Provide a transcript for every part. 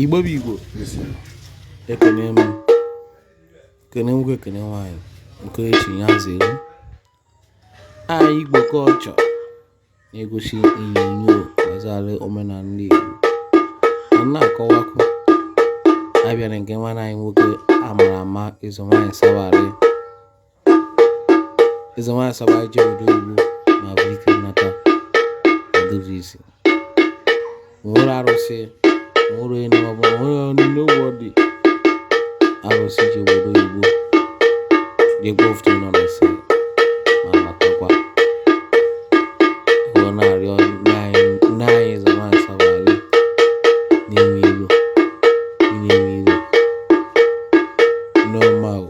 igbo bụ igbo ekene m kene nwoke ekene nwaanyị nke echi ya zere anyị igbo culture na-egosi onyonyo gbasara omenala ndị igbo na na-akọwakwu abịa na nke nwanne anyị nwoke amara ama eze nwaanyị sabalị eze nwaanyị sabalị je obodo oyibo ma bụ ike nnata edozi isi nwere arụsị nwere enu ọbụ nwere onye ụgwọ dị arụsị je obodo oyibo dị gbofuto nọ na nsị ma matakwa ọ na-arịọ nne anyị nne anyị eze nwaanyị sabalị na-enwe ilu na-enwe ilu n'ọma o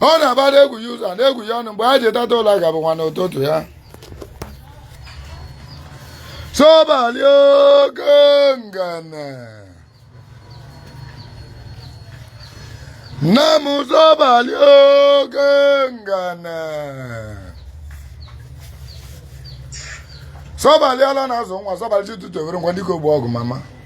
ọ na-aba na-egwu ya ụzọ na-egwu ya ọnụ mgbe ha ji teta ụla ga-abụkwanụ ụtụtụ ya sobalị oke ngene nne m sobalị oke ngene sobalị ala na-azụ nwa sobalị chi ụtụtụ evoruwo dịka ogbu ọgụ mama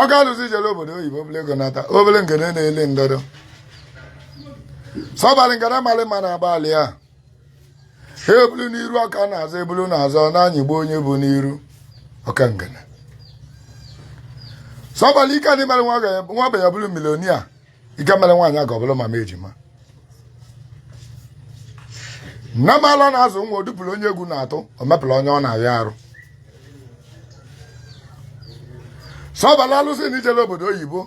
oke alụsị jere obodo oyibo bulu ego nata obele ngene na-eli ndọdọ sọbalị ngene malị ma na-agbalị a ha e bulu n'iru ọ ka n'azụ e bulu n'azụ na-anyịgbu onye bu n'iru oke ngene sọbalị ike adị mere nwa ogbenye bụrụ millionaire ike mere nwaanyị aga ọ bụrụ mama ejima nne m ala na-azụ nwa o dupụrụ onye egwu na-atụ o mepụrụ onye ọ na-arịa arụ sọbalị alụsị na i jele obodo oyibo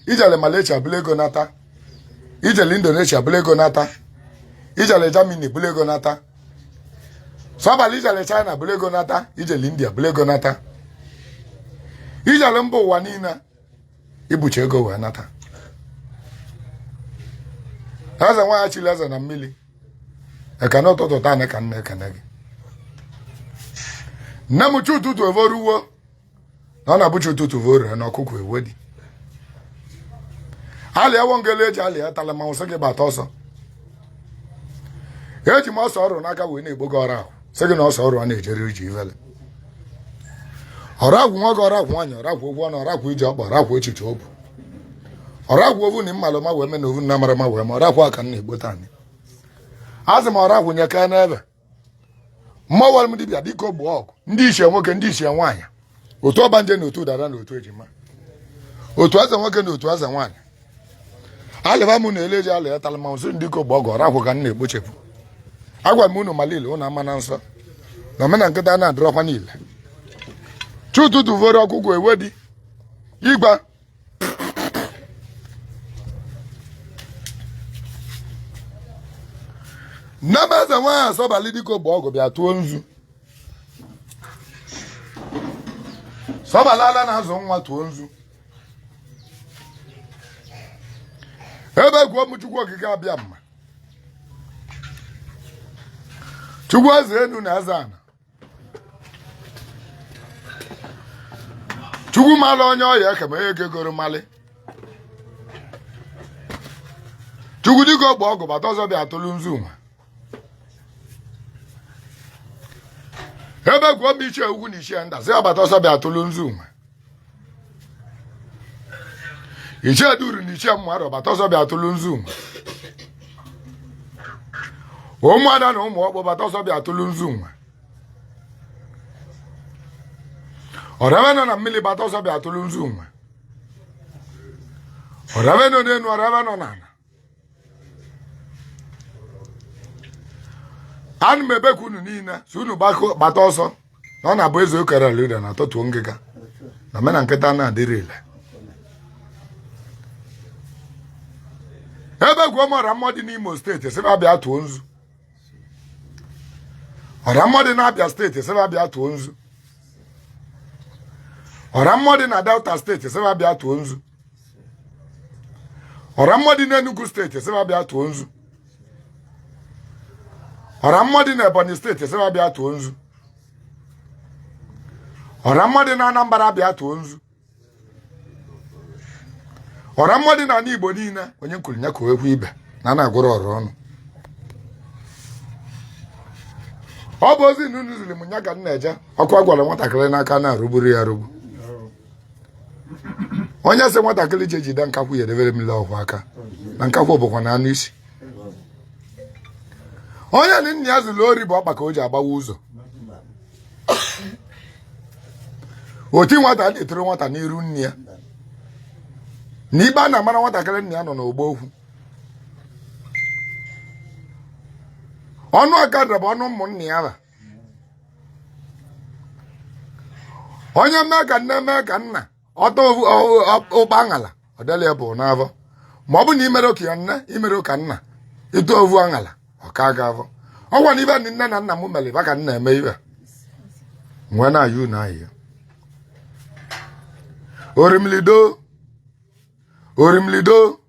i jele Malaysia bulu ego nata i jele Indonesia bulu ego nata i jele Germany bulu ego nata sọbalị i jele China bulu ego nata i jele India bulu ego nata i jele mba ụwa niile i bucha ego wee nata eze nwaanyị chili eze na mmili ekene ụtụtụ taa ka m na-ekene gị nne m chi ụtụtụ evoruwo na ọ na-abụ chi ụtụtụ voru na ọkụkọ ewe dị alịa ewo ngele eji alịa tala ma m sị gị bata ọsọ eji m ose ọrụ n'aka wee na-akpọku ọragwụ sị gị na ose ọrụ ana ejere ije ivele ọragwụ nwoke ọragwụ nwaanyị ọragwụ ụgwọ ọnụ ọragwụ iji ọkpa ọragwụ echiche obu ọragwụ ovu na m malụ ama wee mee na ovu na m amarọ ama wee mee ọragwụ ka m na-akpọ taanị asị m ọragwụ nye ka n'ebe mmụọ wara m dibịa dịka ogbu ọgụ ndị ichie nwoke ndị ichie nwaanyị otu ọgbanje na otu dada na otu ejima otu eze nwoke na otu eze nwaanyị alịba m na eleji alị ya tala ma ozu dike ọgbọ ọgụ ọra agwụ ka m na-ekpochepụ agwa m unu malụ ile unu amana nsọ na omena nkịta na-adịrọkwanụ ile chi ụtụtụ voro ọkụkụ ewe dị igba nne m eze nwaanyị asọbalị dike ọgbọ ọgụ bịa tụọ nzu sọbalala na-azụ nwa tụọ nzu ebekuo m chukwu okike abịama chukwu eze enu na eze ana chukwu mara onye ọ ya-eke ma onye e kegoro mali chukwu dike ọgbọ ọgụ gbata ọsọ bịa tụlụ nzu nwa ebekuo m ichie ukwu na ichie nta sị va gbata ọsọ bịa tụlụ nzu nwa ichie duru na ichie mmadụ gbata ọsọ bịa tụlụ nzu nwa ụmụada na ụmụ ọkpụ gbata ọsọ bịa tụlụ nzu nwa ọrebe nọ na mmili gbata ọsọ bịa tụlụ nzu nwa ọrebe nọ n'enu ọrebe nọ n'ana ana m ebeku unu niine sị unu gbata ọsọ na ọ na-abụ eze okere lịda na atọtuo ngịga na mena nkịta na-adịrị ile ebekuo m ọra mmụọ dị n'imo steeti sị va bịa tụọ nzu ọra mmụọ dị n'abịa steeti sị va bịa tụọ nzu ọra mmụọ dị na delta steeti sị va bịa tụọ nzu ọra mmụọ dị n'Enugu steeti sị va bịa tụọ nzu ọra mmụọ dị na Ebonyi steeti sị va bịa tụọ nzu ọra mmụọ dị na Anambra bịa tụọ nzu ọra mmụọ dị na anị Igbo niine onye nkwuru ya ka ekwu ibe na a na-agụrọ ọra ọnụ ọ bụ ozi na unu ziri m nya ka m na-eje ọkụ a gụọlụ nwatakịrị n'aka na-arụgburọ ya arụgbu onye sị nwatakịrị je jide nkakwụ ya edebere mmiri ọ kwọ aka na nkakwụ bụkwa na anụ isi onye na nna ya ziri ori bụ ọkpa ka o ji agbawa ụzọ oti nwata na-etirọ nwata n'iru nne ya na ikpe ana-amarọ nwatakịrị nna ya nọ n'ọgbọ okwu ọnụ ọkada bụ ọnụ ụmụnna ya ra onye mee ka nne mee ka nna ọta ụba aṅala ọdịla ya bụ n'afọ ma ọ bụ na i merọ ka nne i merọ ka nna ị ta ovu aṅala ọ ka gị afọ ọkwa na ive ndị nne na nna m mere ba ka m na-eme ive wee na-ayọ ụnụ ayịyọ orimili doo orimili doo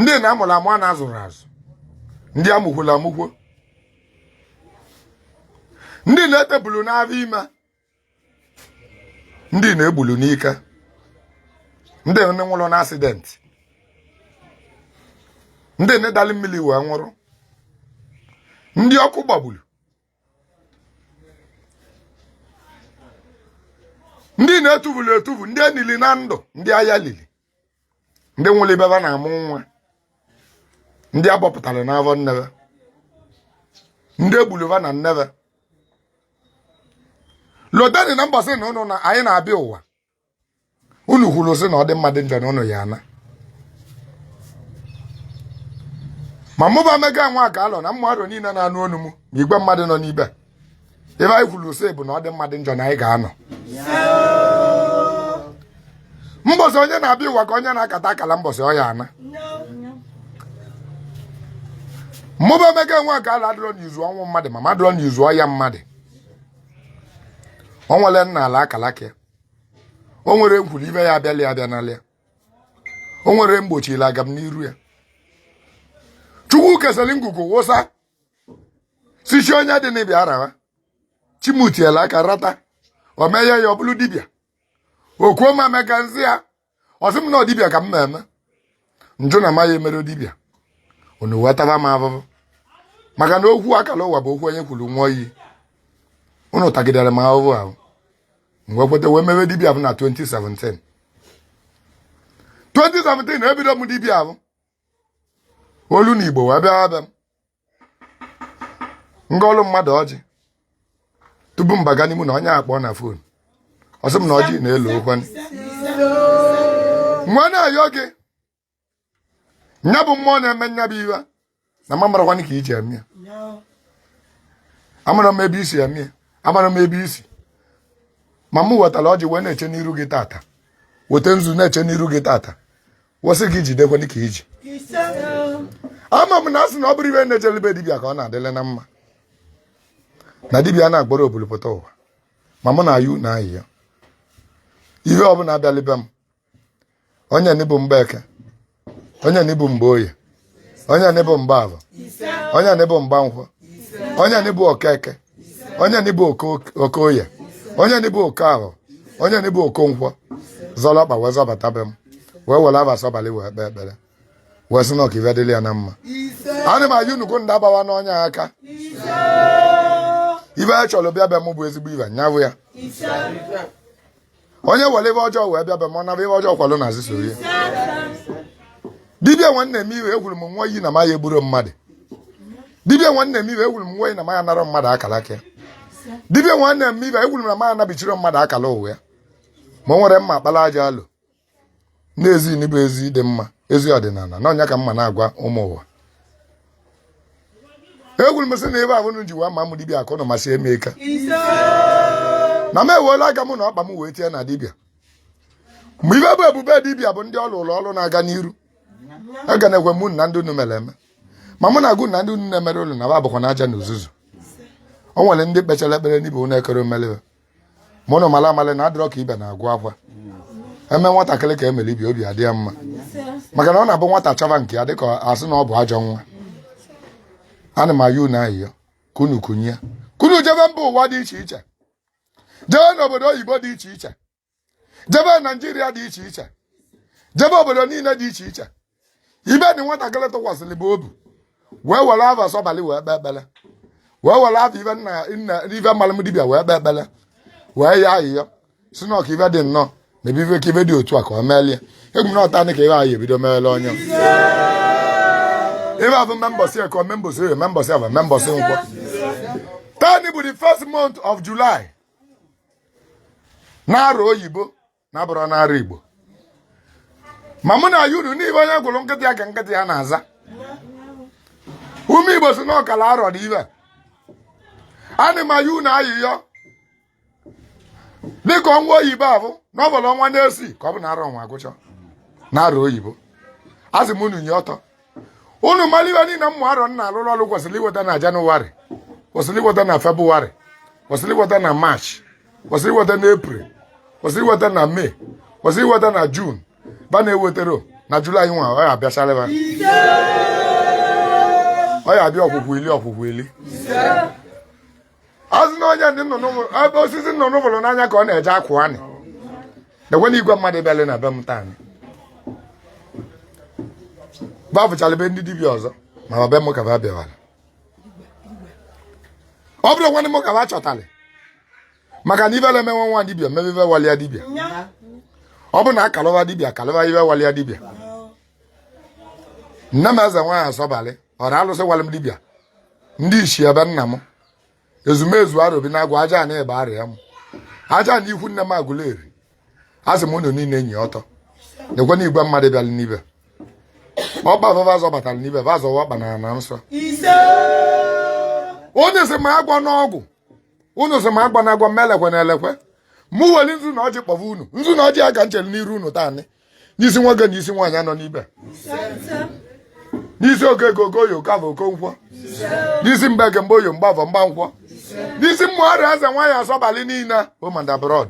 ndị na amụrụ amụ a na-azụrụ azụ ndị amụkwolu amụkwo ndị na-etegbulu n'afọ ime ndị na-egbulu n'ike ndị nwụrụ na asidenti ndị nne dalị mmiri wee nwụrụ ndị ọkụ gbagburu ndị na-etuvulu etuvu ndị enili na ndụ ndị agha lili ndị nwụrụ ibe va na-amụ nwa ndị abọpụtara n'afọ nne va ndị egbulu va na nne va lotanị na mbọsị na ụnụ na anyị na-abịa ụwa unu kwuru sị na ọ dị mmadụ njọ na unu ya ana ma mụba mega nwa ka alọ na mmadụ niile na-anụ onu m na igwe mmadụ nọ n'ibe ebe anyị kwuru sị bụ na ọ dị mmadụ njọ na anyị ga-anọ mbọsị onye na-abịa ụwa ka onye na-akata akala mbọsị ọ ya-ana mmụba emeka nwa ka ala adịrọ n'izu ọnwụ mmadụ ma m adịrọ n'izu ọya mmadụ o nwere m nala akalaka o nwere m kwuru ive ya-abịala ya abịanala ya o nwere m gbochili agamniru ya chukwu kesịrị ngwugwu wụsa sị chi onye dịnị bịa arawa chi mụ tinyela aka rata o meghe ya ọ bụrụ dibịa o kwuo ma mega nzi ya ọ sị m na dibịa ka m na-eme m jụ na amaghị emere dibịa unu wee taba m ahụhụ maka na okwu akala ụwa bụ okwu onye kwuru ṅụọ iyi unu tagidere m ahụhụ ahụ m wee kweta wee mewe dibịa bụ na 2017 2017 ebido m dibịa ahụ olu na igbo wee bịa abịa m m gọlụ mmadụ ọjị tupu m baga n'ime ụnọ onye akpọọ na fon ọ sị m na ọjị na-ele ọkwa m wee na-ayọ gị nya bụ mmụọ na-eme nya bụ ive na m amarọkwanị ka i ji eme ya amarọ m ebe i si eme ya amarọ m ebe i si ma m wetara ọjị wee na-eche n'iru gị tata weta nzu na-eche n'iru gị tata wee sị gị jidekwanị ka i ji ama m na a sị na ọ bụrụ ive na-ejeli be dibịa ka ọ na-adịlị na mma na dibịa na-agboro obulu pụta ụwa ma mụ na-ayọ ụnụ ayịyọ ihe ọbụla abịalị be m onye nị bụ mgbeke onye nị bụ mgboye onye anị bụ mgbavọ onye anị bụ mgbankwọ onye anị bụ okeke onye anị bụ okoye onye anị bụ okavọ onye anị bụ okonkwọ zọrọ ọkpa wee zọbata be m wee were ava sọbalị wee kpee ekpere wee sị na ọ ka ive dịrị ya na mma ana m ayọ nnukwu ndị agbawa na onye aka ive a chọrọ bịa be m bụ ezigbo ive ya bụ ya onye were ive ọjọọ wee bịa be m ọ naba ive ọjọọ kwulu n'azụ soro ya dibia nwanne m iwe ekwuru m ṅụọ iyi na ma ya egburu mmadụ dibia nwanne m iwe ekwuru m ṅụọ iyi na ma ya anara mmadụ akala aka ya dibia nwanne m iwe ekwuru m na ma ya anabichiri mmadụ akala ụwa ya ma o nwere mma akpala aja alụ n'ezi n'ebe ezi dị mma ezi ọdịnala na ọ nya ka m na-agwa ụmụ ụwa ekwuru m sị na ebe ahụ ji wa ma m dibịa akụ na masị eme ike na m ewela aka m na ọkpa m wee tie na dibịa ma ive bụ ebube dibịa bụ ndị ọ lụlụ ọlụ na-aga n'iru aga na-ekwe mụ na ndị unu mere eme ma mụ na-agụ na ndị unu na-emere ụlọ na va bụkwa na aja na uzuzu o nwere ndị kpechara ekpere n'ive unu ekere omelebe unu mara amara na adịrọ ka ive na-agụ akwa e mee nwatakịrị ka e mere ibe ya obi adị ya mma maka na ọ na-abụ nwata chọba nke ya dịka a sị na ọ bụ ajọ nwa ana m ayọ unu ayịyọ ka unu kunie ka unu jebe mba ụwa dị iche iche jebe n'obodo oyibo dị iche iche jebe naijiria dị iche iche jebe obodo niile dị iche iche ive dị nwatakịrị tụkwasịrị bụ obi wee were ava sọbalị wee kpee ekpere wee were ava ibe nna nna ive malụ m dibịa wee kpee ekpere wee yọọ ayịyọ sị na ọ ka ive dị nnọọ na ebe ibe ka ive dị otu a ka ọ meelie ekwu m na ọ taa ka ive ahụ ebido meele onye ibe abụ ma mbọsị eke ma mbọsị oye ma mbọsị avọ ma mbọsị nkwọ taanị bụ the first month of july n'arọ oyibo na abụrọ n'arọ igbo ma mụ na-ayọ unu n'ive onye gụrụ nkịta ya ka nkịta ya na-aza ụmụ igbo sị na ọkala arọ dị ive ana m ayọ unu ayịyọ dịka ọnwa oyibo abụ na ọ vọlụ ọnwa isii ka ọ bụ na arọ nwa agwụcha n'arọ oyibo asị m unu nie ọtọ unu mara ive niile mmụ arọ nna alụrụ ọrụ kwesịrị iweta na janụwarị kwesịrị iweta na febụwarị kwesịrị iweta na maachị kwesịrị iweta na epril kwesịrị iweta na mee kwesịrị iweta na jun va na-eweterọ na julaị nwa ọ ya abịachara va ọ ya abịa okwukwu ili okwukwu ili a sị na onye ndị nnụnụ ebe osisi nnụnụ bulu n'anya ka ọ na-eje akwụ ana m ekwu na igwe mmadụ bịara na be m taa va vụchara be ndị dibịa ọzọ ma ọ be m ka va bịawara ọ bụrụ nwanne m ka va chọtara maka na ibele emenwe nwa dibịa mebe ibe walịa dibịa ọ bụ na akalụwa dibịa akalụwa ibe walịa dibịa nne m eze nwaanyị asọbalị ọra alụsị walị m dibịa ndị ishie be nna m ezumezu arobinagụ aja ana be arịa m aja ana ikwu nne m agụleri asị m unu niile enyi ọtọ nekwe na igwe mmadụ bịara n'ibe ọkpa vava zọbatara n'ibe va zọwa ọkpa na na nsọ onye si ma agwa n'ọgwụ unu si ma agwa na agwa m elekwe na elekwe mụ weli nzu na ọjị kpọva unu nzu na ọjị a ka m chere n'iru unu taa n'isi nwoke na isi nwaanyị anọ n'ibe n'isi okeke okoye okafọ okonkwọ n'isi mgbeke mgboye mgbafọ mgbankwọ n'isi mmụọrị eze nwaanyị asọbalị niile home and abroad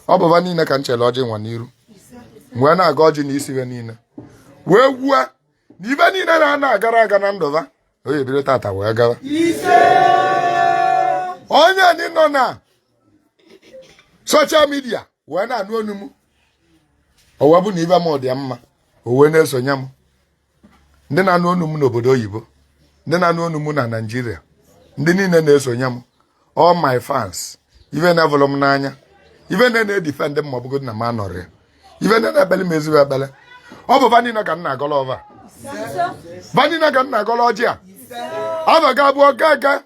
ọ bụ va niile ka m chere ọjị nwa n'iru wee na-agọ ọjị na isi ha niile wee kwue na ive niile na-ana agara aga na ndụ va ọ ya-ebido tata wee gawa onye ndị nọ na social media wee na-anụ onu m o wee bụ na ive mụ dị ya mma o wee na-esonye m ndị na-anụ onu m n'obodo oyibo ndị na-anụ onu m na naijiria ndị niile na-esonye m all my fans ife na-evụlụ m n'anya ife na na-edefend m ma ọ bụgodị na m anọrọ ya ife na na-ekpele m ezigbo ekpele ọ bụ va niine ka m na-agọlụ ọvọ va niine ka m na-agọlụ ọjị a ava ga-abụ ọga aga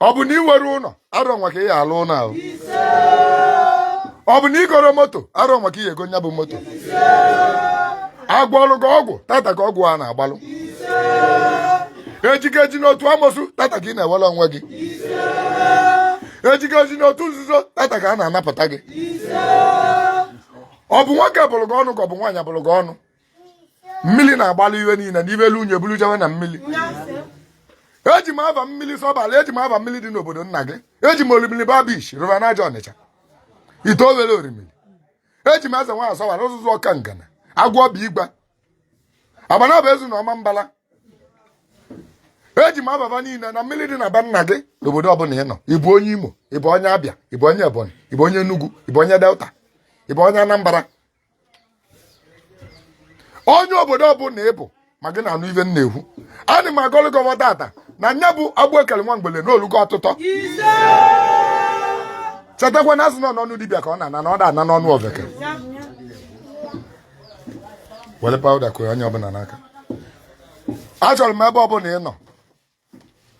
ọ bụ na ị nwerọ ụnọ arọ nwa ka ị ya-alụ ụnọ ahụ ọ bụ na ị goro moto arọ nwa ka ị ya-ego nya bụ moto a gwọlụ gị ọgwụ tata ka ọgwụ a na-agbalụ e ji gị eji n'otu amosu tata ka ị na-enwere onwe gị e ji gị eji n'otu nzuzo tata ka a na-anapụta gị ọ bụ nwoke bụlụ gị ọnụ ka ọ bụ nwaanyị bụlụ gị ọnụ mmiri na-agbalị ive niile n'ive elu unyi buru jewe na mmiri eji m ava mmiri sọbala eji m ava mmiri dị n'obodo nna gị eji m orimiri bar beach river niger ọnịcha ite owere orimiri eji m eze nwaanyị sọbala ụzụzụ ọka ngana agwọ bụ igba agbanabo ezu na ọmambala eji m ava va niile na mmiri dị na be nna gị n'obodo ọbụla ị nọ ị bụ onye imo ị bụ onye abịa ị bụ onye ebonyi ị bụ onye enugu ị bụ onye delta ị bụ onye anambra onye obodo ọbụla ị bụ ma gị na-anụ ive m na-ekwu ana m agọlụ gị ọvọ tata na nya bụ agbụ e kelụ nwa mgbele na o lugo ọtụtọ chetakwa na a sị na n'ọnụ dibịa ka ọ na-ana na ọ da ana n'ọnụ oveke were powder kụọ onye ọbụla n'aka achọrọ m ebe ọbụla ị nọ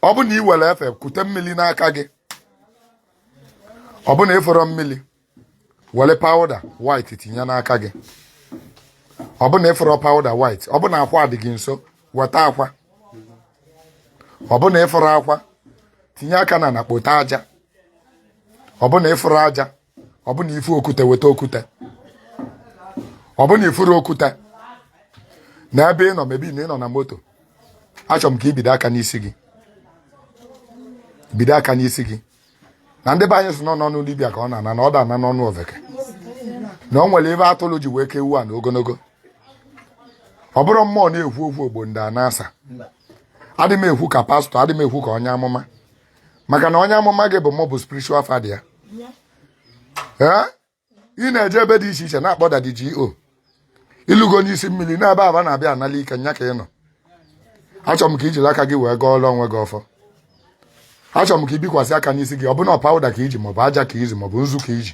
ọ bụ na ị were efe kute mmiri n'aka gị ọ bụ na ị fụrọ mmiri were powder white tinye n'aka gị ọ bụ na ị fụrọ powder white ọ bụ na akwa dị gị nso weta akwa ọ bụ na ị fụrọ akwa tinye aka n'ana kpota aja ọ bụ na ị fụrọ aja ọ bụ na ifu okwute weta okwute ọ bụ na ifurọ okwute na ebe ị nọ maybe na ị nọ na moto achọrọ m ka ibido aka n'isi gị bido aka n'isi gị na ndị be anyị sị na ọ n'ọnụ dibịa ka ọ na-ana na ọ da ana n'ọnụ oveke na o nwere ive atụlụ ji wee ka ewu a na ogologo ọ bụrụ mmụọ na-ekwu okwu ogbo ndị a na-asa adị m ekwu ka pastor adị m ekwu ka onye amụma maka na onye amụma gị bụ mụ bụ spiritual father ya ee ị na-eje ebe dị iche iche na-akpọ daddy GO ilugo n'isi mmiri n'ebe aba na-abịa anala ike nya ka ị nọ achọrọ m ka ijiri aka gị wee gọọrọ onwe gị ọfọ achọrọ m ka ibikwasị aka n'isi gị ọ bụ na powder ka iji maọbụ aja ka iji maọbụ nzu ka iji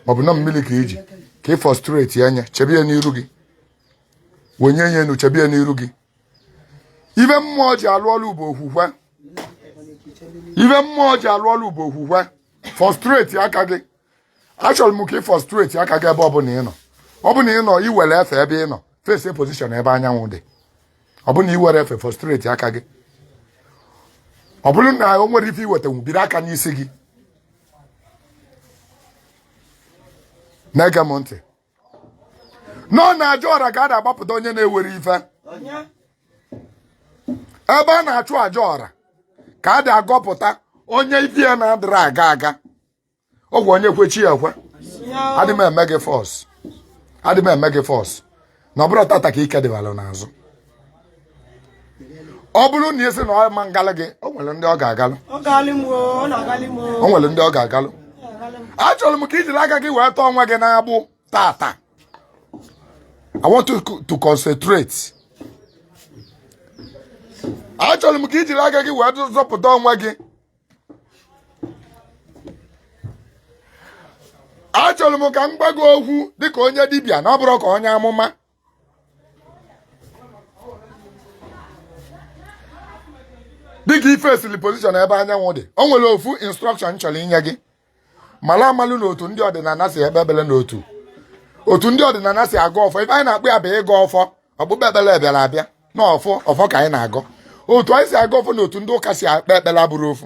maọbụ na mmiri ka iji ka ị fọstretie nya chebe ya n'iru gị wenye ya enu chebe ya n'iru gị ive mmụọ ji alụ ọlụ bụ okwukwe ive mmụọ ji alụ ọlụ bụ okwukwe fọstreti aka gị achọrọ m ka ị fọstreti aka gị ebe ọbụla ị nọ ọ bụ na ị nọ inwere efe ebe ị nọ face position ebe anyanwụ dị ọ bụ na inwere efe fọstreti aka gị ọ bụrụ na o nwerọ ife iwetanwu biri aka n'isi gị na-ege m ntị na ọ n'aja ọra ka a na-agbapụta onye na-enwerọ ife ebe a na-achụ aja ọra ka a dị agọpụta onye ife ya na-adịrọ aga aga ọ kwa onye kwe chi ya ekwe adị m eme gị force adị m eme gị force na ọ bụrọ tata ka ike dịbara n'azụ ọ bụrụ na ị sị na ọ ma ngalụ gị o nwere ndị ọ ga-agalụ o nwere ndị ọ ga-agalụ achọrọ m ka ijiri aka gị wee tọọ onwe gị n'agbụ tata I want you to concentrate achọrọ m ka ijiri aka gị wee zọpụta onwe gị achọrọ m ka m gwa gị okwu dịka onye dibịa na ọ bụrọ ka onye amụma dịka ị facesịlị position ebe anyanwụ dị o nwere ofu instruction chọrọ inye gị mara amalụ na otu ndị ọdịnala si ekpe ekpele na otu otu ndị ọdịnala si agọ ọfọ ife anyị na-akpọ ya bụ ịgọ ọfọ okpukpe ekpere bịara abịa na ọ ọfọ ka anyị na-agọ otu anyị si agọ ọfọ na otu ndị ụka si ekpe ekpere abụrọ ofu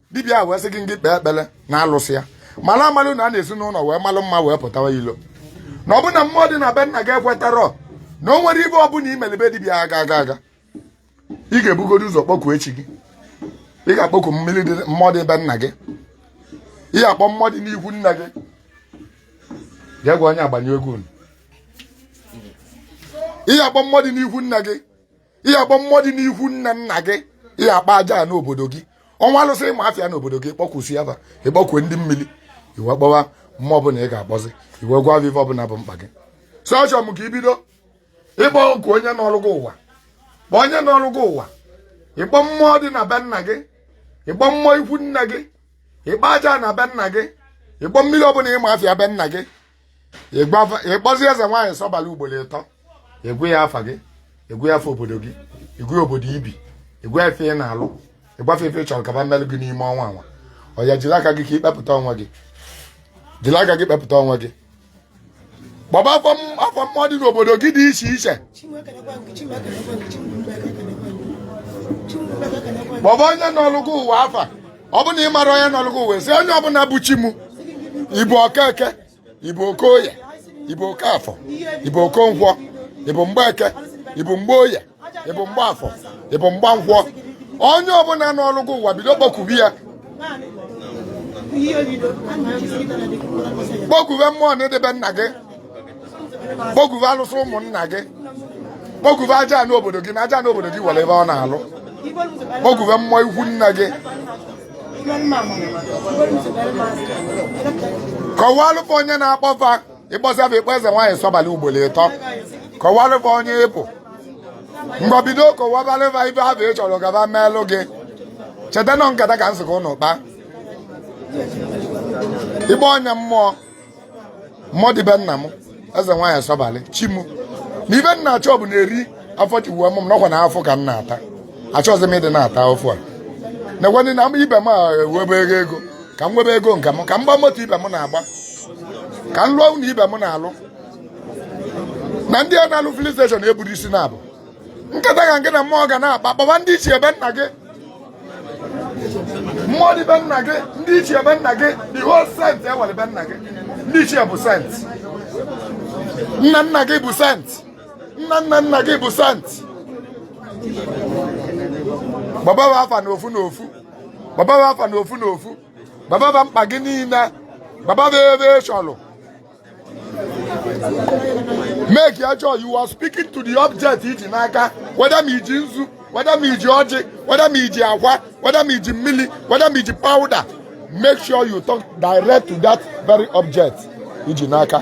dibịa wee sị gị ngị kpee ekpere na alụsị ya mara amalụ na a na-esi n'ụlọ wee malụ mma wee pụtawa ilo na ọ bụ na mmụọ dị na be nna gị ekwetarọ na o nwerọ ive ọbụla imeli be dibịa ga-aga aga ị ga-ebugodo ụzọ kpọkuo chi gị ị ga-akpọku mmiri dị mmụọ dị be nna gị ị ga-akpọ mmụọ dị n'ikwu nna gị jee gwa onye agbanye egwu unu ị ga-akpọ mmụọ dị n'ikwu nna gị ị ya-akpọ mmụọ dị n'ikwu nna nna gị ị ya-akpọ aja ana obodo gị o nwee alụsị ị ma afa ya n'obodo gị kpọkusịa ba ị kpọkue ndị mmiri i wee kpọwa mmụọ ọbụla ị ga-akpọzi i wee gwa va ive ọbụla bụ mkpa gị so achọ m ka i bido ịkpọ oku onye nọrọ gị ụwa kpọọ onye nọrọ gị ụwa ị kpọọ mmụọ dị na be nna gị ị kpọọ mmụọ ikwu nna gị ị kpọọ aja ana be nna gị ị kpọọ mmiri ọbụla ị ma afa ya be nna gị ị kpọzi eze nwaanyị sọbalị ugboro ịtọ ị gwa ya afa gị ị gwa ya afa obodo gị ị gwa ya obodo i bi ị gwa ya ife ị na-alụ ị gwa fa ife ị chọrọ ka ba meelụ gị n'ime ọnwa anwa oya jiri aka gị ka i kpepụta onwe gị jiri aka gị kpepụta onwe gị kpọba afa mmụọ dị n'obodo gị dị iche iche kpọba onye nọlụ gị ụwa afa ọ bụ na ị marọ onye nọrọ gị ụwa sị onye ọbụla bụ chi m ị bụ okeke ị bụ okoye ị bụ okafọ ị bụ okonkwọ ị bụ mgbeke ị bụ mgbeoye ị bụ mgbaafọ ị bụ mgbankwọ onye ọbụla nọrọ gị ụwa bido kpọkube ya kpọkuwe mmụọ na edebe nna gị kpọkuve alụsị ụmụnna gị kpọkuve aja ana obodo gị na aja ana obodo gị nwere ife ọ na-alụ kpọkuve mmụọ ikwu nna gị kọwalụ fa onye na-akpọ fa ị kpọsịa fa ị kpọọ eze nwaanyị sọbalị ugboro ịtọ kọwalụ fa onye ị bụ mgbe bido kọwabalụ fa ife ahụ ị chọrọ ka ba meelụ gị cheta na ọ nkata ka m sị ka ụnụ kpaa ịgba ọnya mmụọ mmụọ dị be nna m eze nwaanyị sọbalị chi m na ife m na-achọ bụ na eri afọ e ji wee mụ m na ọkwa na afụfụ ka m na-ata achọghịzi m ịdị na-ata afụfụ a nekwanị na ibe m enwebe ego ego ka m nwebe ego nke m ka m gba moto ibe m na-agba ka m lụọ ụlọ ibe m na-alụ na ndị a na-alụ filling station eburu isi na ọ bụ nkata ka ngị na mmụọ ga na-akpa kpọba ndị ichie be nna gị mmụọ dị be nna gị ndị ichie be nna gị the whole saint e nwere be nna gị ndị ichie bụ saint nna nna gị bụ saint nna nna nna gị bụ saint kpọba ba afa na ofu na ofu kpọba ba afa na ofu na ofu gwaba ba mkpa gị niile gwaba ba ife ị chọrọ make ya sure you are speaking to the object i ji n'aka whether ma i ji nzu whether ma i ji ọjị whether ma i ji akwa whether ma i ji mmiri whether ma i ji powder make sure you talk direct to that very object i ji n'aka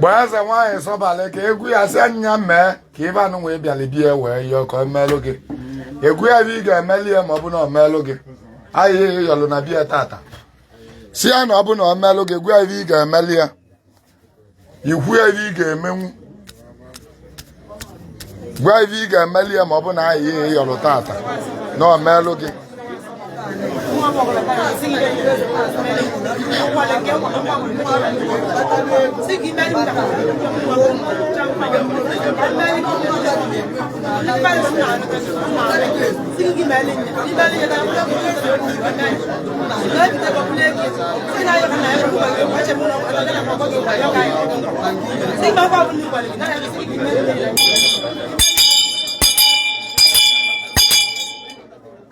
be eze nwaanyị sọbalị ka ị gwa ya sị ya na ya mee ka ife anụ wee bịalị be ya wee yọọ ka o meelụ gị ị gwa ya ife ị ga-emeli ya ma ọ bụ na o meelụ gị ayịyọ ị yọlụ na be ya tata sị ya na ọ bụ na o meelụ gị ị gwa ya ife ị ga-emeli ya i kwuo ya ife ị ga-emenwu gwa ya ife ị ga-emeli ya ma ọ bụ na ayịyọ ị yọlụ tata na o meelụ gị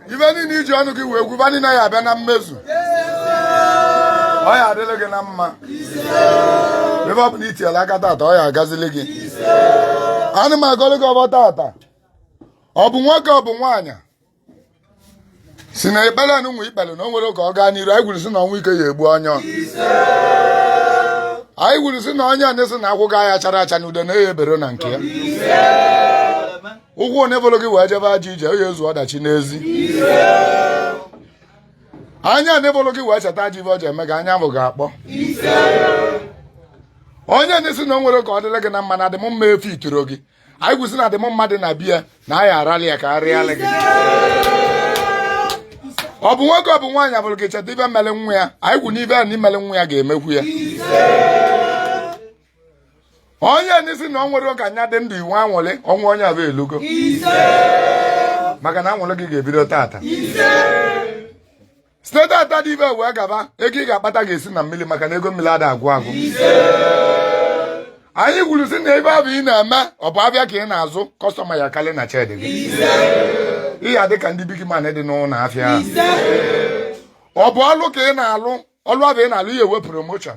ife niile i ji ọnụ gị wee gwuba niile ya abịa na mmezu ọ ya adịlị gị na mma ebe ọ bụna i tiela aka tata ọ ya agazili gị ana m agọlụ gị ọfọ tata ọ bụ nwoke ọ bụ nwaanyị sị na ekpere anụ nwe ikpere na o nwere ka ọ gaa n'iru anyị gwuru sị na ọnwụ ike ya egbu onye anyị gwuru sị na onye na-asị na akwụ gị ya chara acha na udene ya ebere na nke ya ụkwụ onye bụrụ gị wee jebe ajọ ije onye ezu ọdachi n'ezi anya ndị bụrụ gị wee cheta ajọ ife ọ ji eme gị anya ahụ ga-akpọ onye na-asị na o nwere ka ọ dịrị gị na mma na ọdịmma efe ituro gị anyị kwu sị na ọdịmma dị na be ya na anyị arali ya ka arịala gị ọ bụ nwoke ọ bụ nwaanyị a fụrụ gị cheta ife mere nwa ya anyị kwu na ife a na-emere nwa ya ga-emekwu ya onye na-asị na o nwere ka ị ya adị ndụ nwee anwụlị ọnwụ onye afụ elugo maka na anwụlị gị ga-ebido tata site tata dị ife wee gaba ego ị ga-akpata ga-esi na mmiri maka na ego mmiri ada agwụ agwụ anyị gwuru sị na ife afụ ị na-eme ọ bụ afịa ka ị na-azụ customer ya akarị na shed gị ị ya adị ka ndị big man dị n'ụlọ afịa ọ bụ ọlụ ka ị na-alụ ọlụ afụ ị na-alụ ị ya enwe promotion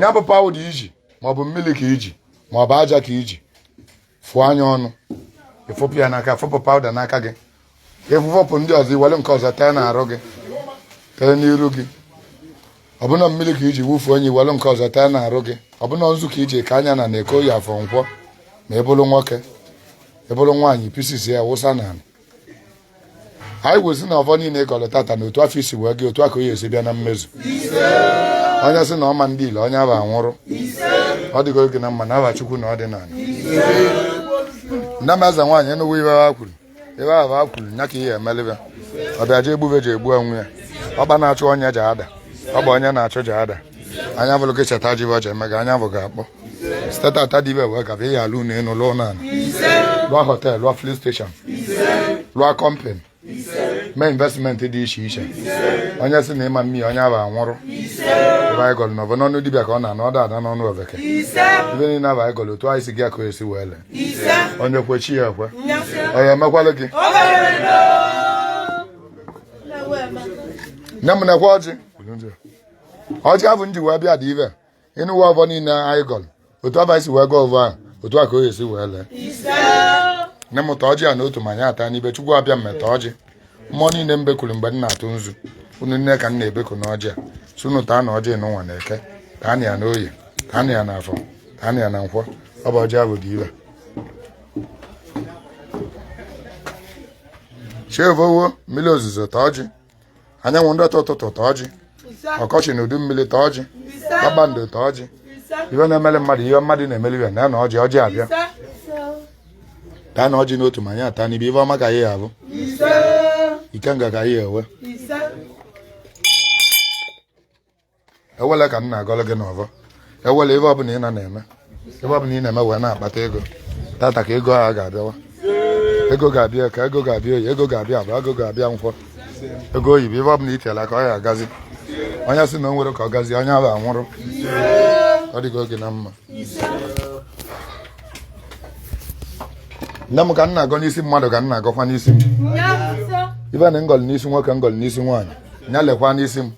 ya bụ powder i ji maọbụ mmiri ka i ji maọbụ aja ka i ji fụọ ya ọnụ ị fụpụ ya n'aka fụpụ powder n'aka gị ị fụfụpụ ndị ọzọ i were nke ọzọ tee n'arụ gị tee n'iru gị ọ bụ na mmiri ka i ji wufuo ya i were nke ọzọ tee n'arụ gị ọ bụ na nzu ka i ji kaa ya n'anị eke oye afọ nkwọ ma ị bụrụ nwoke ị bụrụ nwaanyị ị pieces ya wụsa n'anị anyị kwuo si na ọvọ niile ị gọrọ tata na otu afụ i si wee gọọ otu a ka ọ ya esi bịa na mmezu onye sị na ọ ma ndị ile onye ahụ anwụrụ ọ dịgoro gị na mma na aha chukwu na ọdịnala nne m eze nwaanyị enugwu ive ha kwuru ive ahụ ha kwuru nya ka a ya emele va ọ bịa ji egbube ji egbu onwe ya ọkpa na-achụ onye ji ada ọ bụ onye na-achụ ji ada anya vụlụ gị cheta ji bọja eme gị anya ahụ ga-akpọ site tata dị ive a wee gaba ị ya alụ ụnọ enu lụọ ụnọ ala lụọ họtel lụọ filin steshọn lụọ kọmpan mee investmenti dị iche iche onye si na ị ma mmeli onye ahụ anwụrụ ive anyị gọlụ na ọvọ n'ọnụ dibịa ka ọ na-anụ ọ da ada n'ọnụ oveke ive niile ahụ anyị gọlụ otu anyị si gọọ ya ka ọ esi wee lee onye kwe chi ya ekwe onye emekwalụ gị nne m nekwe ọjị ọjị afụ m ji wee bịa dị ive a ị nụwa ọvọ niile anyị gọrọ otu afụ anyị si wee gọọ ọvọ ahụ otu a ka o esi wee lee nne m taa ọjị a na otu ma anyị ata n'ibe chukwu abịama taa ọjị mmụọ niile m bekuru mgbe m na-atụ nzu unu niine ka m na-ebeku n'ọjị a sị unu taanụ ọjị n'ụwa na eke taa na ya na oye taa na ya na afọ taa na ya na nkwọ ọ bụ ọjị ahụ dị ive a chi evowo mmiri ozuzo taa ọjị anyanwụ ndị ọtọ ụtụtụ taa ọjị ọkọchị na udu mmiri taa ọjị kpakpando taa ọjị ihe na-emeli mmadụ ihe mmadụ na-emeli ya na ya na ọjị ọjị abịa taanụ ọjị n'otu ma anyị ata n'ibe ive ọma ka anyị ya avụ ikenga ka anyị ya awa awele ka m na-agọrọ gị n'ọvọ awele ive ọbụla ị na na-eme ive ọbụla ị na-eme wee na-akpata ego tata ka ego a ga-abịawa ego ga-abịa eke ego ga-abịa oye ego ga-abịa afọ ego ga-abịa nkwọ ego oyibo ive ọbụla i tiele aka ọ ya agazi onye si na o nwerọ ka ọ gazi onye ahụ anwụrụ ọ dịgo gị na mma nne m ka m na-agọ n'isi mmadụ ka m na-agọkwa n'isi m ive m gọlụ n'isi nwoke m gọlụ n'isi nwaanyị nya lekwa n'isi m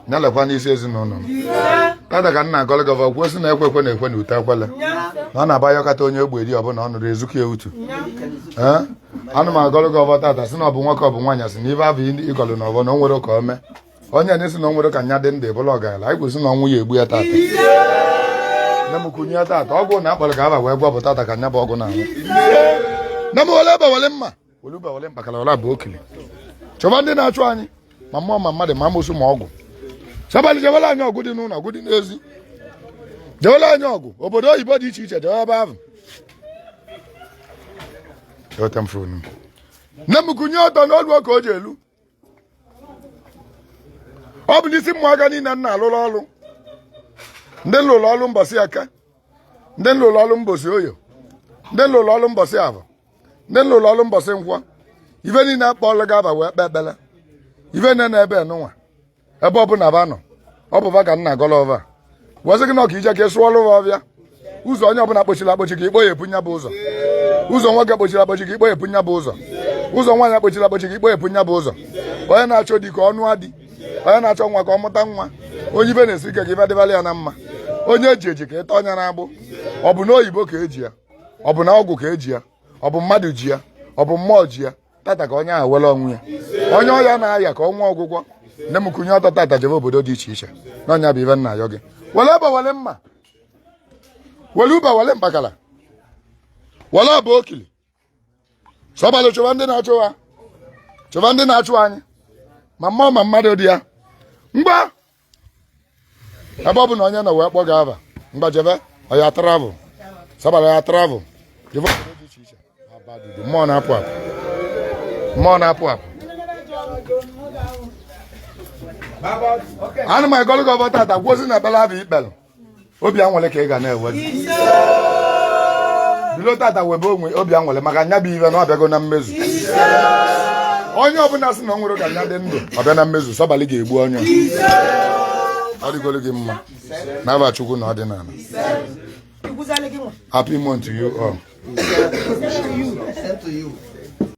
nya lekwa n'isi ezinụlọ m tata ka m na-agọlị gị ọvọ a kwuo si na ekwe ekwe na-ekwe na ute ekwele na ọ na-abụ a yọkata onye ogbe eri ọbụla ọ nụrụ ezuka ya utu anụ m agọlị gị ọvọ a tata si na ọ bụ nwoke ọ bụ nwaanyị si na ive ahụ ị gọlụ na ọvọ na o nwerọ ka o mee onye na-esi na o nwerọ ka nya dị ndụ bụlụ ọgaranya anyị kwuo si na ọnwụ ya egbu ya tata nne m kunye ya tata ọgwụ na a kpọrọ gị aha wee gwọ ọ bụ tata ka nya bụ ọgwụ na-anwụ nne m wele egbe wele mma wele ube wele mkpakara ọla bụ okele chọba ndị na-achụ anyị ma mmụọ ma mmadụ ma amosu ma ọgwụ sabalị jewela anyị ọgụ dị n'ụlọ ọgụ dị n'ezi jewela anyị ọgụ obodo oyibo dị iche iche jewe ebe ahụ nne m kunie ọtọ n'olu ka o ji elu ọ bụ n'isi ụmụaka niile m na-alụrụ ọrụ ndị m lụrụ ọrụ mbọsị eke ndị m lụrụ ọrụ mbọsị oye ndị m lụrụ ọrụ mbọsị avọ ndị m lụrụ ọrụ mbọsị nkwọ ife niile kpọọlụ gị ava wee kpee ekpere ife niile na ebe nụnwa ebe ọbụla va nọ ọ bụ va ka m na-agọlụ ọvọ wee sị gị na ọka ije ka ị sụọlụ va ọvịa ụzọ onye ọbụla kpọchiri akpọchi ka ị kpọyepu nya bụ ụzọ ụzọ nwoke kpọchiri akpọchi ka ị kpọyepu nya bụ ụzọ ụzọ nwaanyị kpọchiri akpọchi ka ị kpọyepu nya bụ ụzọ onye na-achọ di ka ọ nụa di onye na-achọ nwa ka ọ mụta nwa onye ive na-esi ike ka ive dịvalụ ya na mma onye eji eji ka ị tọọ nya n'agbụ ọ bụ na oyibo ka eji ya ọ bụ na ọgwụ ka eji ya ọ bụ mmadụ ji ya ọ bụ mmụọ ji ya tata ka onye ahụ nwere onwe ya onye ọya na-aya ka o nwee ọgwụgwọ nne m kunie ọtọ tata jebe obodo dị iche iche na ọ nya bụ ive m na-ayọ gị were egbe were mma were ube were mkpakara were ọba okili sọbalụ chụwa ndị na-achụ ha chụwa ndị na-achụ anyị ma mmụọ ma mmadụ dị ya ngwa ebe ọbụna onye nọ wee kpọ gị ava ngwa jebe oya travel sọbalụ ya travel jebe obodo dị iche iche aba dudu mmụọ na-apụ apụ mmụọ na-apụ apụ ana m agọlụ gị ọvọ tata gwozi na ebele abụ ikpelụ obi awele ka ị ga na-ewe bilo tata webe onwe obi awele maka nya bụ ive na ọ bịago na mmezu onye ọbụla sị na o nwere ka nya dị ndụ ọ bịa na mmezu sọbalị ga-egbu onye ọ dịgolo gị mma n'ava chukwu na ọdịnala happy month to you all